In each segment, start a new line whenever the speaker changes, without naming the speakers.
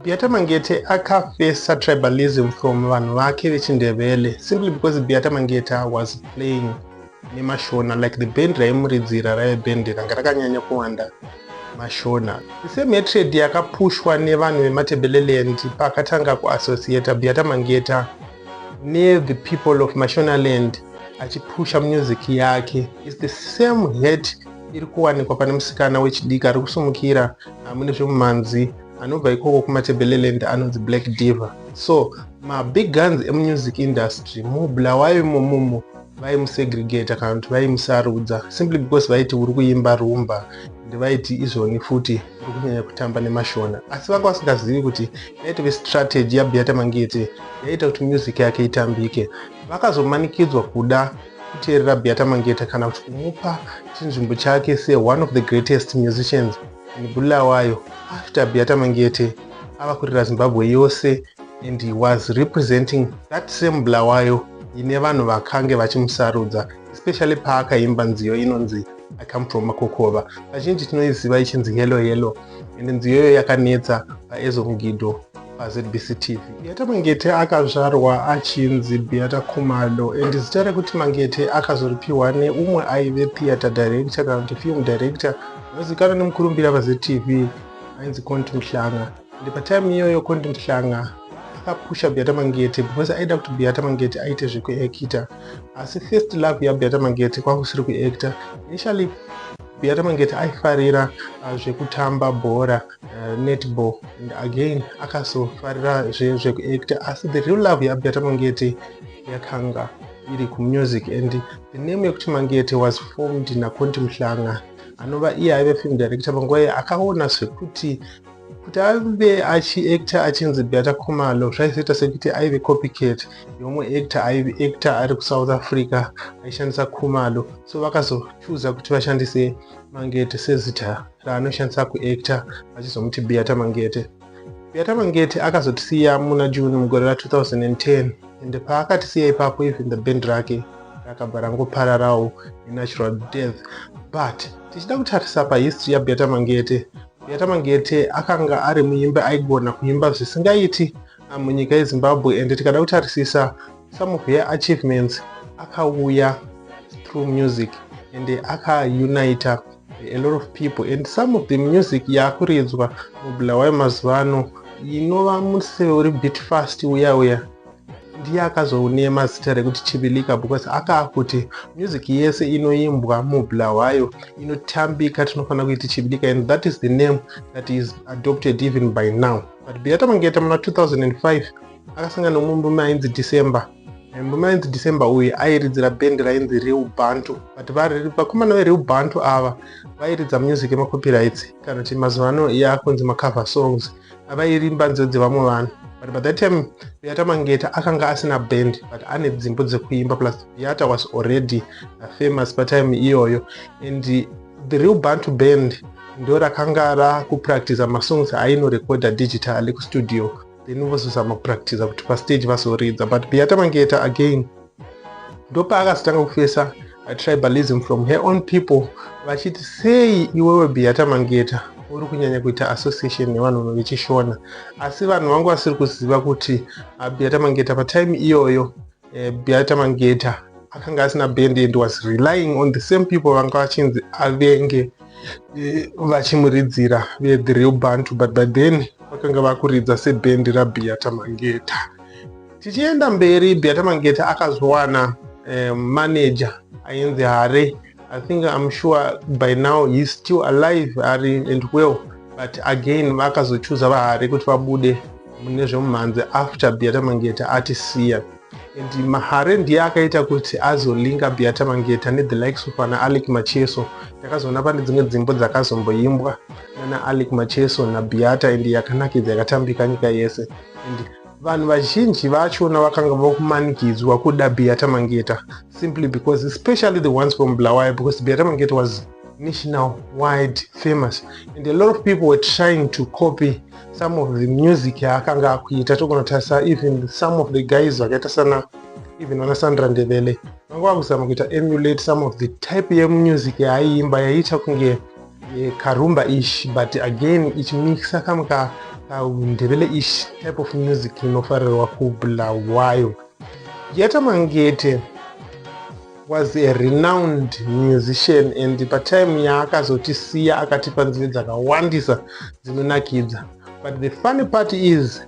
Biata Mangete akafesa tribalism from vanhu vake vechindevele simply because Biata Mangeta was playing nemashona like the band raimuridzira raive band ranga rakanyanya kuwanda mashona the same hatred yakapushwa nevanhu vematebeleland paakatanga kuassociata Biata Mangeta ne the people of mashona land achipusha music yake is the same hate iri kuwanikwa pane musikana wechidiki ari kusumukira amune zvemumhanzi anobva ikoko kumatebeleland anonzi black diver so mabig guns emusic industry mubulawayo imomomo vaimusegregata kana kuti vaimusarudza simply because vaiti uri kuimba rumba and vaiti izvoni futi uri kunyanya kutamba nemashona asi vanga vasingazivi kuti yaitove strategy yabiata mangete yaiita kuti music yake itambike vakazomanikidzwa kuda kuteerera biata mangete kana kuti kumupa chinzvimbo chake seone of the greatest musicians Bulawayo after Beata Mangiete ava kurira Zimbabwe yose and he was representing that same Bulawayo ine vanhu vakange vachimusarudza especially paakaimba nziyo inonzi I come from Makokova vazhinji tinoiziva ichinzi Hello Hello and nziyo iyoyo yakanetsa paEzo Mugido paZBC TV. Beata Mangete akazvarwa achinzi Beata Khumalo and zita rekuti Mangete akazoripiwa neumwe aive theatre director kana kuti film director Anozikanwa nemukurumbira paZTV ainzi Conti Mhlanga and patime iyoyo Conti Mhlanga akapusha Beata Mangete because aida kuti Beata Mangete aite zvekuactor asi first love yaBeata Mangete kwanga kusiri kuactor initially Beata Mangete aifarira uh, zvekutamba bhora uh, netball and again akazofarira zvekuactor asi the real love yaBeata Mangete yakanga iri kumusic and the name yekuti mangete was formed naconti mhlanga anova iye aive film director panguva iye akaona zvekuti kuti aive achiactor achinzi beata khumalo zvaizoita sekuti aive copycat yomwe actor aive actor ari kusouth africa aishandisa khumalo so vakazochuza kuti vashandise mangete sezita raanoshandisa kuactor vachizomuti beata mangete Beata Mangete akazotisiya muna June mugore ra 2010 ende paakatisiya ipapo even the band rake rakabva rangopararawo nenatural death but tichida kutarisa pahistory yaBeata Mangete Beata Mangete akanga ari muimbi aigona kuimba zvisingaiti ah, munyika yeZimbabwe ende tikada kutarisisa some of her achievements akauya through music ende akaunita a lot of people and some of the music yakuridzwa mubulawayo mazuva ano inova museve uri bit fast uya uya ndiye akazounema zita rekuti chivilika because akaa kuti music yese inoimbwa mubulawayo inotambika tinofanira kuiti chivilika and that is the name that is adopted even by now but beata mangeta muna 2005 akasangana nomumbume ainzi december And on 9th December uyu airidzira band rainzi Real Bantu but vakomana veReal Bantu ava vairidza music yemacopyrights kana kuti mazuva ano yakunzi macover songs avairimba nziyo dzevamwe vanhu but by that time viata mangeta akanga asina band but ane dzimbo dzekuimba plus viata was already famous patime iyoyo and the real bantu band ndo rakanga rakupractiza masongs ainorekoda digitally kustudio then vozozama kupractiza kuti pastage vazoridza but biyatamangeta again ndopaakazotanga kufesa tribalism from her own people vachiti sei iwewe biyatamangeta uri kunyanya kuita association nevanhu vechishona asi vanhu vanga vasiri kuziva kuti abiyatamangeta patime iyoyo Eh, Beata Mangeta akanga asina band and was relying on the same people vanga vachinzi avenge eh, vachimuridzira ve the real bantu but by then vakanga vakuridza sebhendi raBeata Mangeta. Tichienda mberi, Beata Mangeta akazowana eh, manager ainzi Hare I think I'm sure by now he's still alive ari and well but again vakazochuza vahari kuti vabude mune zvemumhanzi after Beata Mangeta atisiya and mahare ndiye akaita kuti azolinga Beata Mangeta ne the likes of ana Alec Macheso takazoona pane dzimwe dzimbo dzakazomboimbwa nana Alec Macheso na Beata and yakanakidza yakatambika nyika yese and Vanhu vazhinji vachona vakanga vakumanikidzwa kuda Beata Mangeta simply because especially the ones from Bulawayo because Beata Mangeta was national wide famous and a lot of people were trying to copy some of the music yaakanga akuita togona tarisa even some of the guys vakaita sana even vana sandra ndevele vanga vakuzama kuita emulate some of the type yemusic yaaiimba yaiita kunge eh, karumba ish but again ichimixa kamwe ka ndebele ish type of music inofarirwa kubulawayo yeta mangete was a renowned musician and patime yaakazotisiya akatipa nziyo dzakawandisa dzinonakidza but the funny part is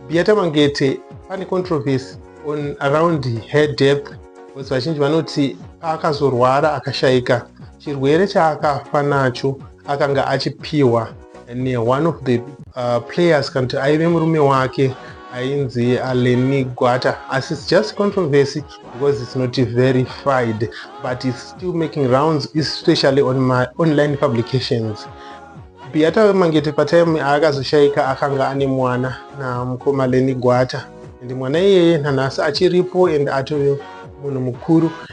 biata mangete pane controversy on around her death because vazhinji vanoti paakazorwara akashaika chirwere chaakafa nacho akanga achipiwa ne one of the uh, players kana kuti aive murume wake ainzi aleni gwata asi its just controversy because its not verified but its still making rounds especially on my online publications biyata wemangete patime aakazoshaika akanga ane mwana namukoma leni gwata and mwana iyeye nanhasi achiripo and atove munhu mukuru